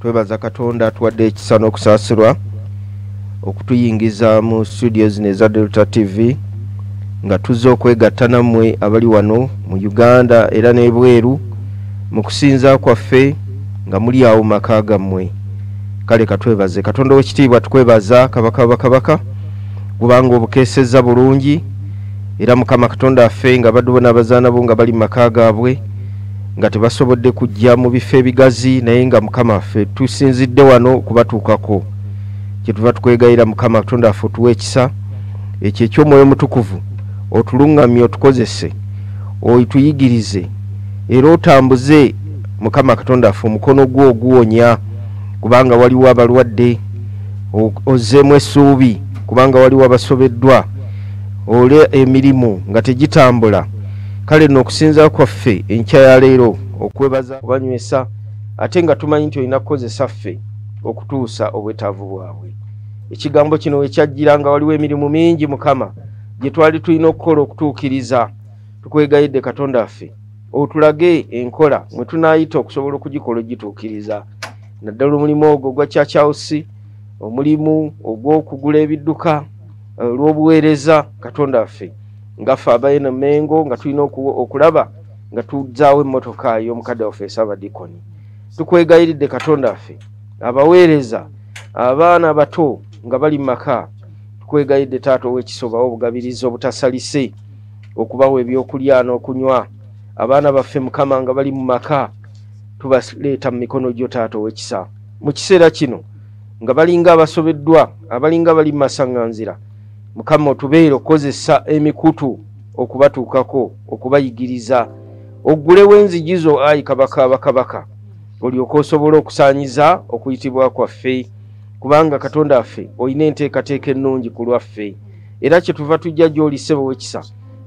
twebaza katonda atuwadde ekisa n'okusaasirwa okutuyingiza mu studio zino eza delta tv nga tuzze okwegatta nammwe abali wano mu uganda era n'ebweru mu kusinza kwaffe nga muli awo maka gammwe kale katwebaze katonda owekitiibwa tukwebaza kabaka bakabaka kubanga obukeseza bulungi era mukama katonda affe nga badubo n'abazaana bo nga bali mu maka gaabwe nga tebasobodde kujja mu bifo ebigazi naye nga mukama affe tusinzidde wano okubatuukako kyetuva tukwegayira mukama katonda affe otuwa ekisa ekyo ekyomwoyo omutukuvu otuluŋŋamye otukozese oyituyigirize era otambuze mukama katonda affe omukono gwo oguwonya kubanga waliwo abalwadde ozeemu essuubi kubanga waliwo abasobeddwa ole emirimu nga tegitambula kale no okusinza kwaffe enkya ya leero okwebaza kubanywesa ate nga tumanyi nti olina kukozesa ffe okutuusa obwetaavu bwabwe ekigambo kino wekyajjira nga waliwo emirimu mingi mukama gye twali tulina okukola okutuukiriza tukwegayidde katonda waffe otulage enkola mwe tunaayita okusobola okugikola ogituukiriza naddala omulimu ogwo ogwa kyakyawusi omulimu ogw'okugula ebidduka eh, olw'obuweereza katonda waffe nga ffe abaena mengo nga tulina okulaba nga tuzaawo emmotoka y'omukadde waffe esabadikoni tukwegayiridde katonda waffe abaweereza abaana abato nga bali maka tukwegayiridde taata ow'ekisobawo obugabirizi obutasalise okubawa ebyokulya n'okunywa abaana baffe mukama nga bali mu maka tubaleeta mu mikono gyo taata ow'ekisa mu kiseera kino nga balinga abasobeddwa abalinga bali mu masaŋŋanzira mukama otubeere okukozesa emikutu okubatuukako okubayigiriza oggulewo enzigi zo ayi kabaka bakabaka olyoka osobola okusanyiza okuyitibwa kwaffe kubanga katonda waffe olina enteekateeka ennungi ku lwaffe era kyetuva tujja gyoli sebo wekisa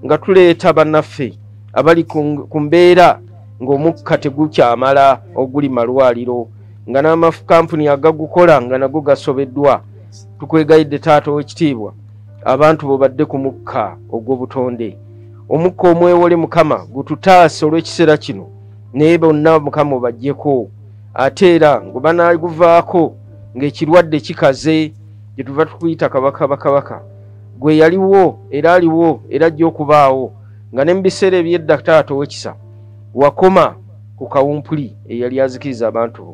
nga tuleeta bannaffe abali ku mbeera ng'omukka tegukyamala oguli malwaliro nga n'amakampuni agagukola nga nago gasobeddwa tukwegayidde taata owekitiibwa abantu bobadde ku mukka ogw'obutonde omukka omwewole mukama gututaase olw'ekiseera kino naye bonna mukama obajjeko ate era ngubanaguvaako ng'ekirwadde kikaze gyetuva tukuyita kabaka bakabaka gwe yaliwo era aliwo era ajja okubaawo nga ne mu biseera ebyedda taata owekisa wakoma ku kawumpuli eyali azikiriza abantu bo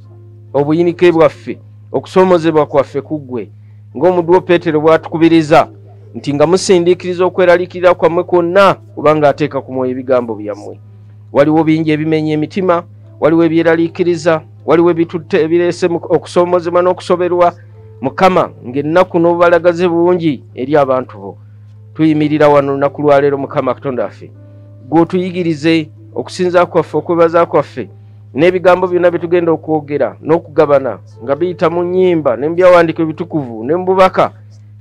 obuyinike bwaffe okusoomozebwa kwaffe ku ggwe ng'omuddu wo peetero bw'atukubiriza nti nga musindiikiriza okweralikirira kwammwe kwonna kubanga ateeka ku mwoyo ebigambo byammwe waliwo bingi ebimenya emitima waliwo ebyeraliikiriza waliwo ebitutte ebireese okusoomozebwa n'okusoberwa mukama ng'ennaku n'obubalagaze bungi eri abantu bo tuyimirira wano lunaku lwaleero mukama katonda waffe gw'otuyigirize okusinza kwaffe okwebaza kwaffe n'ebigambo byonna bye tugenda okwogera n'okugabana nga biyita mu nnyimba ne mu byawandiiko ebitukuvu ne mu bubaka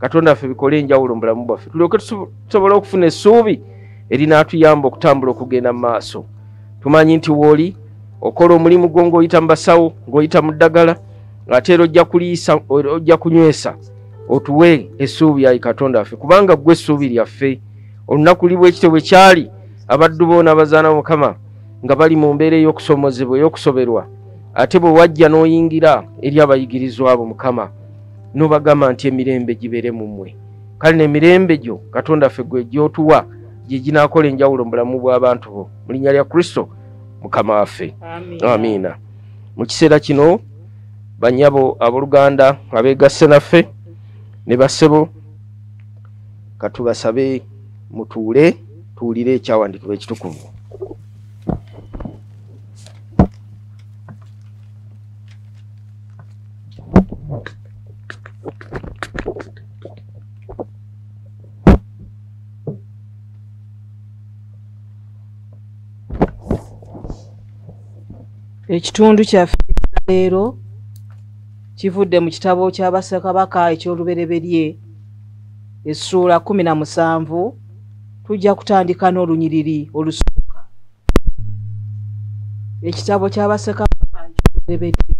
katonda waffe bikole enjawulo mu bulamu bwaffe tulyoke tusobole okufuna essuubi erinaatuyamba okutambula okugenda mu maaso tumanyi nti wooli okola omulimu gwo ng'oyita mu basawo ng'oyita mu ddagala ate era ojja kuliisa ojja kunywesa otuwe essuubi ayi katonda waffe kubanga ggwe essuubi lyaffe olunaku libwekityo bwe kyali abaddu boona abazaana mukama nga bali mu mbeera ey'okusomozebwa ey'okusoberwa ate bwe wajja n'oyingira eri abayigirizwa abo mukama n'obagamba nti emirembe gibeere mu mmwe kale n'emirembe gyo katonda ffe gwe gyotuwa gye ginaakola enjawulo mu bulamu bw'abantu bo mu linnya lya kristo mukama waffe amiina mu kiseera kino banyabo abooluganda abeegasse naffe ne bassebo katubasabe mutuule tuwulire ekyawandiikibwa ekitukuvu ekitundu kyaffe leero kivudde mu kitabo kya bassekabaka eky'olubereberye essuula kumi na musanvu tujja kutandika n'olunyiriri olusooka ekitabo ky'abasekabaka ekikulebedde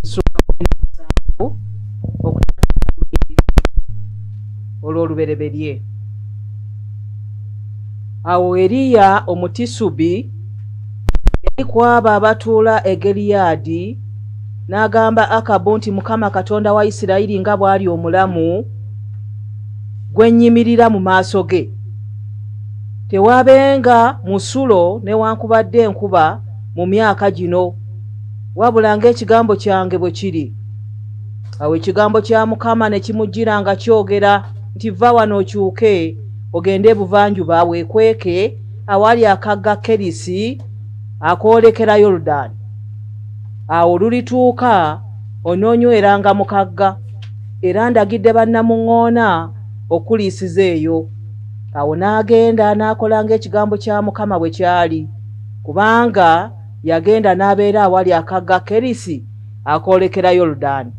essuula kumi na musanvu okutandika olunyiriri olw'olubereberye awo eriya omutisubi yali kwabo abatuula e geliyaadi N'agamba Akabu nti, Mukama Katonda wa Isirayiri nga bw'ali omulamu, gwe nnyimirira mu maaso ge, tewaabenga musulo newankubadde enkuba mu myaka gino, wabula ng'ekigambo kyange bwe kiri. Awo ekigambo kya Mukama ne kimujjira nga kyogera nti, Va wano okyuke ogende ebuvanjuba weekweke awali akagga Kerisi akoolekera Yorudani. awo lulituuka onoonyweranga mu kagga era ndagidde bannamuŋŋoona okuliisiza eyo awo n'agenda n'akola ng'ekigambo kya mukama bwe kyali kubanga yagenda n'abeera awali akagga kerisi akoolekera yoludaani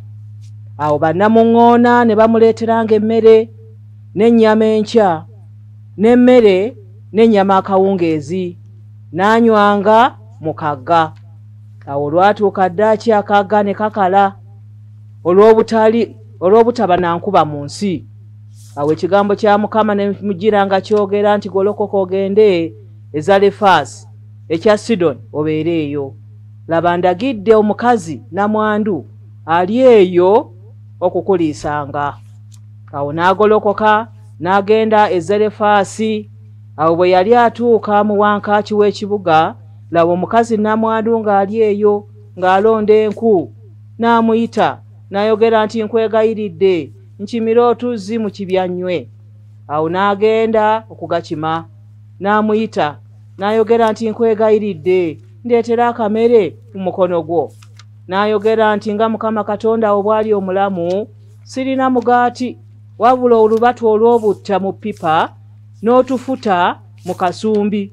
awo bannamuŋŋoona ne bamuleeteranga emmere n'ennyama enkya n'emmere n'ennyama akawungeezi n'anywanga mu kagga awo olwatuuka ddaaki akaaga ne kakala olw'obutali olw'obutaba na nkuba mu nsi awo ekigambo kya mukama ne mugira nga kyogera nti golokoka ogende ezalefaasi ekya sidoni obeere eyo laba ndagidde omukazi namwandu ali eyo okukuliisanga awo n'agolokoka n'agenda ezalefaasi awo bwe yali atuuka mu wankaaki w'ekibuga laba omukazi namwandu ng'ali eyo ng'alonda enku n'amuyita n'ayogera nti nkwegayiridde nkimire otuzzi mu kibyannywe awo n'agenda okugakima n'amuyita n'ayogera nti nkwegayiridde ndeetera akamere mu mukono gwo n'ayogera nti nga mukama katonda wo bwali omulamu sirina mugaati wabula olubatu olw'obutta mu ppipa n'otufuta mu kasumbi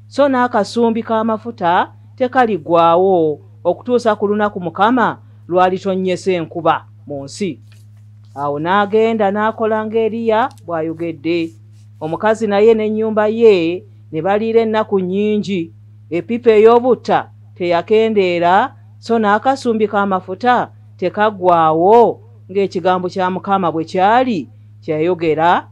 so n'akasumbi k'amafuta tekaligwawo okutuusa ku lunaku mukama lwalitonnyesa enkuba mu nsi awo n'agenda n'akola nga eriya bw'ayogedde omukazi naye n'ennyumba ye ne baliira ennaku nnyingi epipa ey'obutta teyakendeera so n'akasumbi k'amafuta tekaggwaawo ng'ekigambo kya mukama bwe kyali kyeyayogera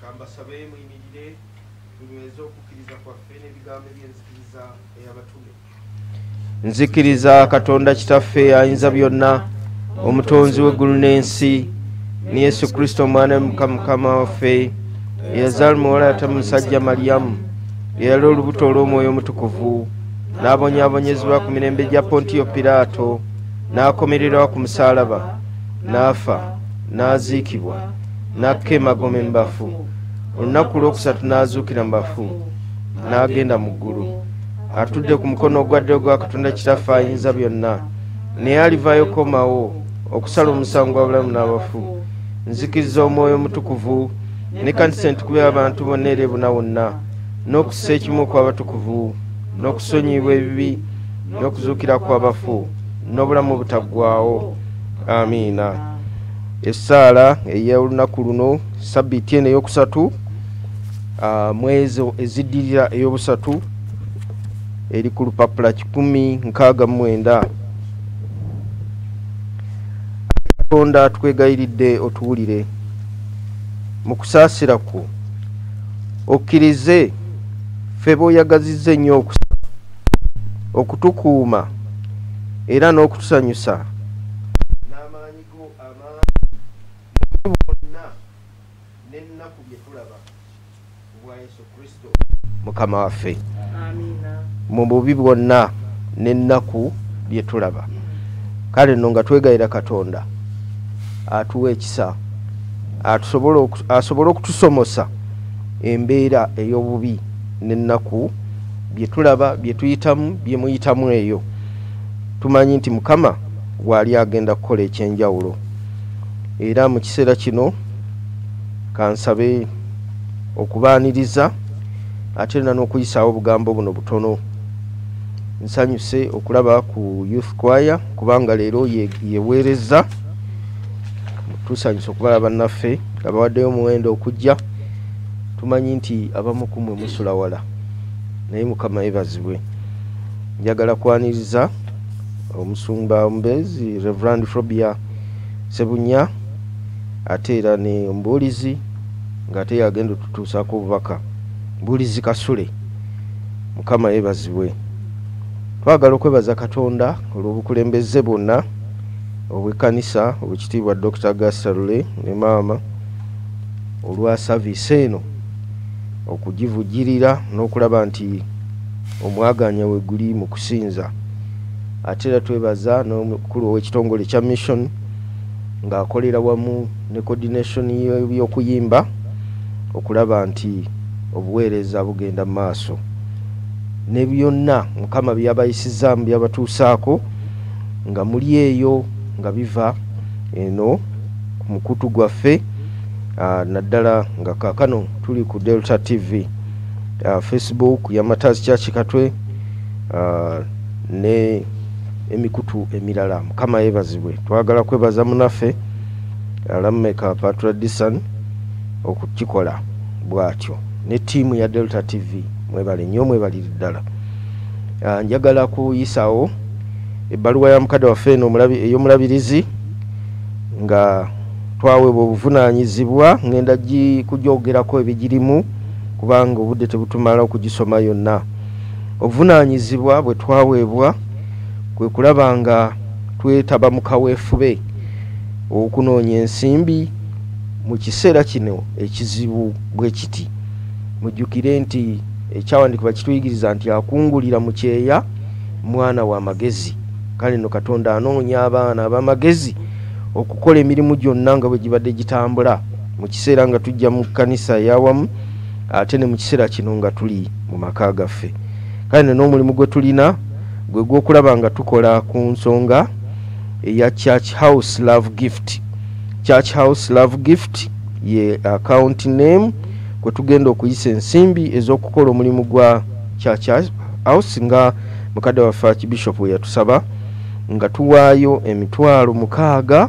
kambasabe muyimirire tunyweze okukkiriza kwaffe n'ebigambo eby'enzikiriza ey'abatume nzikiriza katonda kitaffe ayinza byonna omutonzi w'eggulu n'ensi ne yesu kristo omwana mukama waffe eyazaala muwala yata musajja malyamu eyali olubuto olw'omwoyo omutukuvu n'abonyabonyezebwa ku mirembe gya pontiyo piraato n'akomererawo ku musaalaba n'afa n'aziikibwa n'akka emagoma embafu olunaku lwokusatu n'azuukira mu bafu n'agenda mu ggulu atudde ku mukono ogwaddeo gwa katonda kitaffe ayinza byonna naye alivayo komawo okusala omusango gwa bulamu n'abafu nzikiriza omwoyo omutukuvu ne kanisa entukuba abantu bonna era ebuna wonna n'okussa ekimu okw'abatukuvu n'okusonyiyibwa ebibi n'okuzuukira kw'abafu n'obulamu obutaggwawo amiina essaala ey'olunaku luno sabiiti eno eyokusatu ah, mwezo eziddirira eyobusatu eri ku lupapula kikumi nkaaga mumwenda katonda tukwegayiridde otuwulire mu kusaasira kwo okkirize ffe boyagazizza ennyo okusa okutukuuma era n'okutusanyusa mukama waffe mu bubi bwonna n'ennaku bye tulaba kale nno nga twegayira katonda atuwa ekisa asobole okutusomosa embeera ey'obubi n'ennaku bye tulaba bye tuyitamu bye muyitamu eyo tumanyi nti mukama waali agenda kukola ekyenjawulo era mu kiseera kino kansabe okubaaniriza ate na n'okuyisaawo obugambo buno butono nsanyuse okulaba ku youth kwaya kubanga leero yeweereza tusanyuse okubala bannaffe abawaddeyo omuwendo okujja tumanyi nti abamu kumwe musula wala naye mukama yebazibwe njagala kwaniriza omusumba omubeezi reverand frobia sebunya ate era ne omubuulizi ng'ate yagenda otutuusaako obubaka mbuulizi kasule mukama yebazibwe twagala okwebaza katonda olw'obukulembeze bwonna obwekkanisa obwekitiibwa dr gasarule ne maama olwa saviisi eno okugivujirira n'okulaba nti Omwagaanya weguli mu kusinza. Ate era twebaza n'omukulu ow'ekitongole kya Mission ng'akolera wamu ne coordination y'ebyokuyimba okulaba nti obuweereza bugenda mu maaso ne byonna Mukama byabayisizaamu byabatuusaako nga muli eyo nga biva eno ku mukutu gwaffe naddala nga kaakano tuli ku Delta TV. uh, facebook ya matazi kyaki katwe uh, ne emikutu emirala mukama yebazibwe twagala kwebaza munaffe alameka patradisan okukikola bwatyo ne tiimu ya delta tv mwebale nyo mwebaliri ddala uh, njagala kuyisawo ebbaluwa ya mukadde waffe eno eyomulabirizi nga twawebwa obuvunanyizibwa ngenda kugyogerako ebigirimu kubanga obudde tebutumala okugisoma yonna obuvunaanyizibwa bwe twaweebwa kwe kulaba nga twetaba mu kaweefube okunoonya ensimbi mu kiseera kino ekizibu bwe kiti mujjukire nti ekyawandiikibwa kituyigiriza nti akungulira mu kyeya mwana wa magezi kale no katonda anoonya abaana ab'amagezi okukola emirimu gyonna nga bwe gibadde gitambula mu kiseera nga tujja mu kkanisa eyawamu ate ne mu kiseera kino nga tuli mu maka gaffe kale ne n'omulimu gwe tulina gwe gw'okulaba nga tukola ku nsonga eya church house love gift church house love gift ye account name kwe tugenda okuyisa ensimbi ez'okukola omulimu gwa church house nga mukadde waffe akibishopu we yatusaba nga tuwaayo emitwalo mukaaga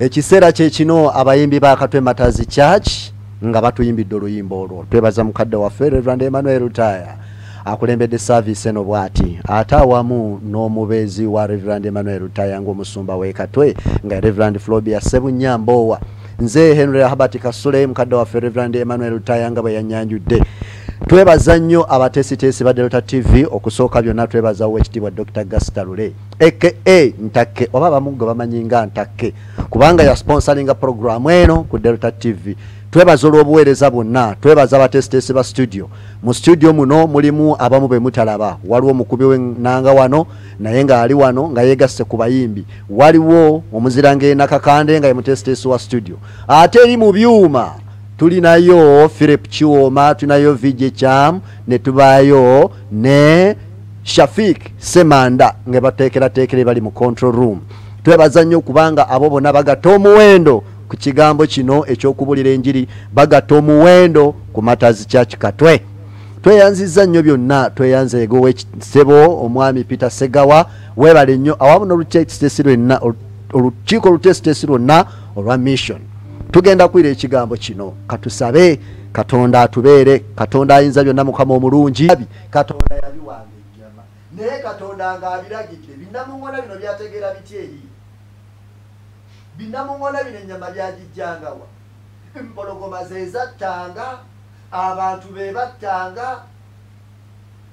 ekiseera kyekino abayimbi ba katwe matazi church nga batuyimbidde oluyimba olwo twebaza mukadde waffe reverand emmanuel taya akulembedde service eno bwati ate awamu n'omubeezi wa reverand emmanuel taya ngaomusumba wekatwe nga reverand flobia sebunyambowa nze henry habert kasule mukadde waffe reverand emmanuel taya nga bwe yanyanjudde twebaza nnyo abatesiteesi ba delta tv okusooka byonna twebaza owekitiibwa dr gastalule aka ntakke oba abamu gwe bamanyi nga ntakke kubanga yasponsoringa programu eno ku delta tv twebaza olw'obuweereza bwonna twebaza abatesiteesi ba studio mu studio muno mulimu abamu be mutalaba waliwo omukubi wenanga wano naye ng'ali wano nga yeegasse ku bayimbi waliwo omuziranga enakakande nga ye mutesiteesi wa studio ate eri mu byuma tulinayo philip kiwooma tulinayo vijecam ne tubaayo ne Shafiq Semanda nga bateekerateekera bali mu control room twebaza nnyo kubanga abo bonna bagatta omuwendo ku kigambo kino eky'okubulira enjiri bagatta omuwendo ku matazi church katwe tweyanziza nnyo byonna tweyanza egowa ekisebo omwami peter segawa webale nnyo awamu nolutekitesi lwenna olukiiko olutekitesi lwonna olwa mission tugenda kwira ekigambo kino katusabe katonda atubeere katonda ayinza byonna mukama omulungi katonda yabiwanga ennyama naye katonda nga abiragidde binnamuŋona bino byategeera bitya eri binnamuŋona bino ennyama byagijjangawa empologoma zezattanga abantu be battanga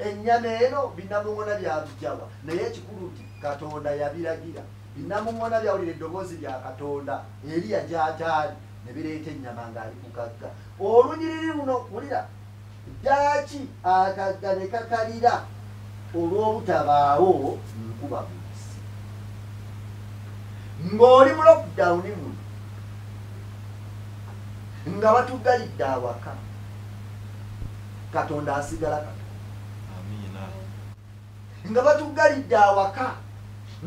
ennyama eno binnamuŋona byabijjawa naye ekikulu nti katonda yabiragira binnamuŋona byawulira eddoboozi lya katonda eriya gyataali ne bireeta ennyama ng'ali kukagga olunyiriri luno wulira Ddaaki akagga ne kakalira olw'obutabaawo nkuba mu nsi. Ng'oli mu lockdown muno nga batuggalidde awaka, Katonda asigala Katonda. nga batuggalidde awaka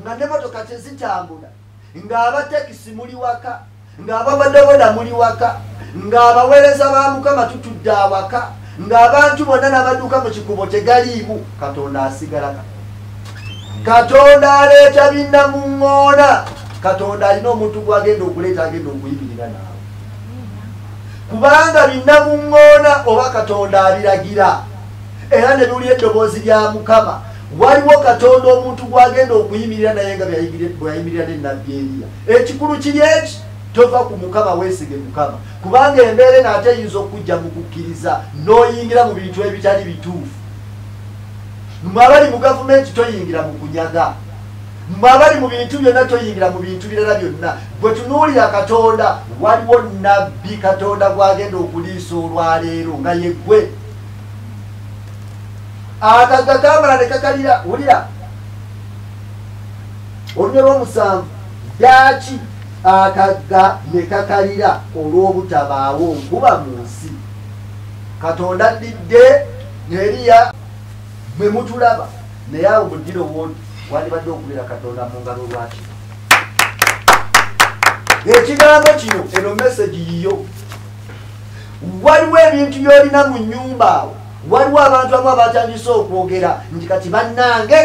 nga ne motoka tezitambula ng'abatekisi muli waka ng'ababodaboda muli waka ng'abaweereza ba mukama tutudde awaka ng'abantu bonna n'abaduuka mu kikubo tegaliimu katonda asigala katonda aleeta binna mu ŋŋoona katonda alina omuntu gwagenda okuleeta agenda okuyibirira naawe kubanga binna mu ŋŋoona oba katonda abiragira era ne biwulira eddoboozi lya mukama waliwo katonda omuntu gwagenda okuyimirira naye nga bweyayimirira ne nabbi eriya ekikulu kiri eki tova ku mukama weesige mukama kubanga embeera eno ate eyinza okujja mu kukkiriza n'oyingira mu bintu ebitali bituufu mwe abali mu gavumenti toyingira mu kunyaga mwe abali mu bintu byonna toyingira mu bintu birala byonna bwe tunuulira katonda waliwo nabbi katonda gwagenda okuliisa olwaleero nga yeggwe akagga kamala ne kakalira wulira olunya lwomusanvu ddaaki akagga ne kakalira olw'obutabaawo nkuba mu nsi katonda addidde neriya mwe mutulaba naye awo mudiro wodi wandibadde okubeera katonda mu ngalo lwaki ekigambo kino eno mesegi yiyo waliwo ebintu byolina mu nyumba awo waliwo abantu amu abatandise okwogera nti kati bannange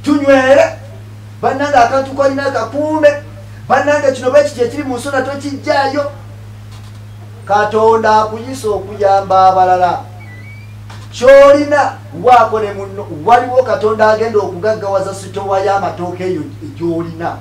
tunywere bannange akantu kolina akakuume bannange kino bwekiti ekiri mu nsona tokijjayo katonda akuyisa okuyamba abalala kyolina waako ne munno waliwo katonda agenda okugaggawaza sitowa y'amatooka eyo egyolina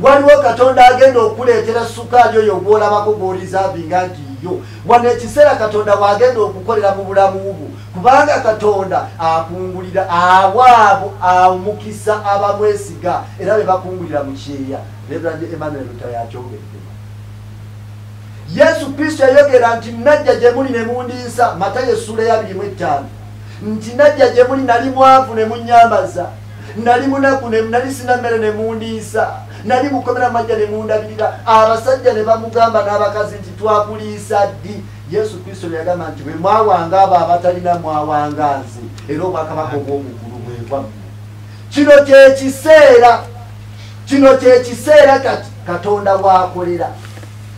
waliwo katonda agenda okuleetera sukaali oyo gwolabako gworizavinga nti yo wano ekiseera katonda waagenda okukolera mu bulamu bwo kubanga katonda akungulira awaabo amukisa abamwesiga era be bakungulira mu kyeya reverand emmanuel lutayakyogedde yesu kristo yayogera nti najja gye muli ne mundinsa matayo essuula yabirimu ettaano nti najja gye muli nali mwavu ne munyambaza nali munaku nali sina mmere ne mundiisa nali mukomera majja ne mundabirira abasajja ne bamugamba n'abakazi nti twakuliisa ddi yesu kristo yagamba nti bwe mwawanga abo abatalina mwawanga nze era obwakabaka obw'omugulu bwebwamu kino kyekiseera kino kyekiseera kati katonda wakolera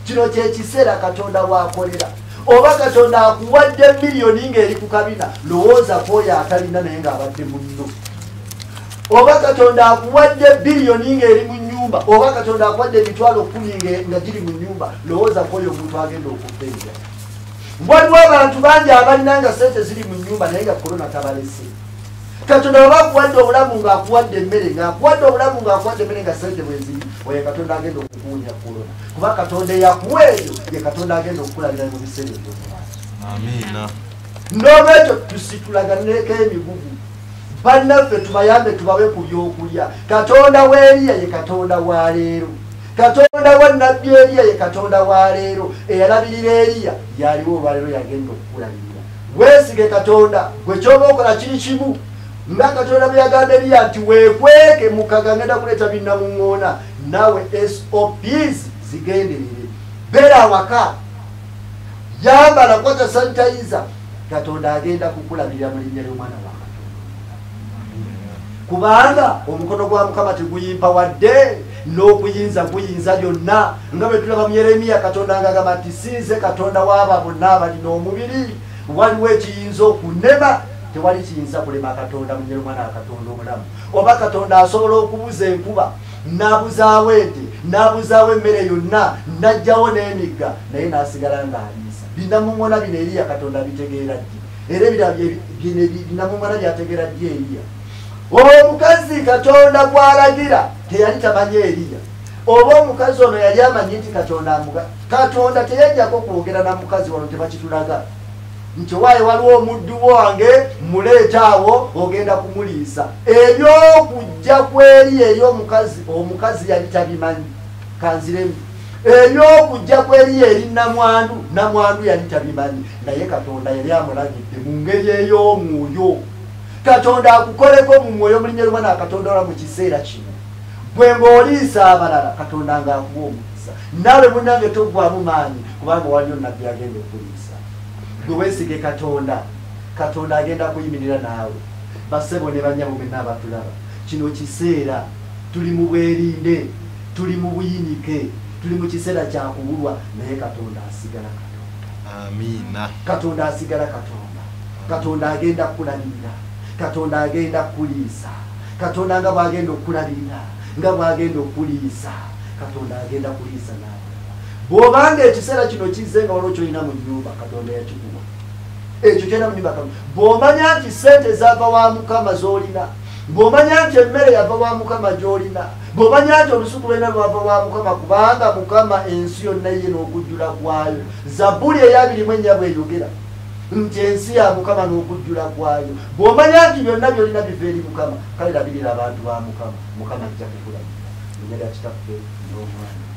kino kyekiseera katonda wakolera oba katonda akuwadde miliyoni ngaeri ku kabina lowooza kwoyo atalina naye ngaabadde munno oba katonda akuwadde biliyoni ngaeri mu nyumba oba katonda akuwadde emitwalo kumi nga giri mu nyumba lowooza kwoyo omuntu agenda okubeera waliwo abantu bangi abalina nga sente ziri mu nyumba naye nga korona tabalese katonda waba akuwadde obulamu ngaakuwadde emmere ngaakuwadde obulamu ngaakuwadde emmere nga sente bweziri oyo katonda agenda okukuwunya korona kuba katonda eyakuwa eyo ye katonda agenda okukulabira mu biseera ebyomumaaso amiina n'olwekyo tusitulaganeko emigugu bannaffe tubayambe tubawe ku byokulya katonda w'eriya ye katonda wa leero katonda wa nabbi eriya ye katonda wa leero eyalabirira eriya yaliwo olwaleero yagenda okukulabirira weesige katonda gwe kyoba okola kiri kimu nga katonda bwe yagamba eriya nti weekweke mukagangenda kuleeta binnamuŋŋoona nawe sops zigenderere bera awaka yambala kwata sanitayiza katonda agenda kukulabirira mu linnya ly'omwana wa kubanga omukono gwa mukama teguyimpa wadde n'okuyinza kuyinza byonna nga bwe tulaba mu yeremiya katonda nga agamba nti sinze katonda waaba bonna abalina omubiri waliwo ekiyinza okunema tewali kiyinza kulema katonda munyera omwana wa katonda omulamu oba katonda asobola okubuza enkuba nabuzaawo ente nabuzaawo emmere yonna najjawo n'emigga naye nasigala ng'aliisa binamumona bino eriya katonda bitegeera ddi era binamumona byategeera ddi eriya omukazi katonda gwalagira teyali tamanyi eriya oba omukazi ono yali amanyi nti katonda amuga katonda teyajjako kwogera na mukazi wano tebakitulaga nti waaye waliwo omuddu wange muleeta awo ogenda kumuliisa ebyokujja kweri eri omukazi omukazi yali tabimanyi kanziremu ebyokujja kweri eri namwandu namwandu yali tabimanyi naye katonda yali amulagidde mu ngeri ey'omwoyo katonda akukoleko mu mwoyo mulinya luma nakatonda ola mu kiseera kino gwe ng'oliisa abalala katonda ng'akuwa omukisa naawe munange toggwamu maanyi kubanga waliyo nabbi agenda okuliisa mukisa gwe wesige katonda katonda agenda kuyimirira naawe basebo ne banyabo mwenna abatulaba kino kiseera tuli mu bwerinde tuli mu buyinike tuli mu kiseera kyakubulwa naye katonda asigala katonda amiina katonda asigala katonda katonda agenda kukulabirira katonda agenda kukuliisa katonda nga bwagenda okukulabirira nga bwagenda okukuliisa katonda agenda kuliisa naawe bwobanga ekiseera kino kizze nga waliwo kyolina mu nyumba katonda yakikuwa ekyo kyolina mu nyumba bwomanya nti sente zava wa mukama zolina bwomanya nti emmere yava wa mukama gyolina bwomanya nti olusuku lwena lwava wa mukama kubanga mukama ensi yonna ye n'okujjula kwayo zabbuli eyabirimu ennya bweyogera nti ensi ya mukama n'okujjula kwayo bwomanya nti byonna byolina biva eri mukama kale labirira abantu ba mukama mukama ajja kukulabira enyaga kitaffe n'omwana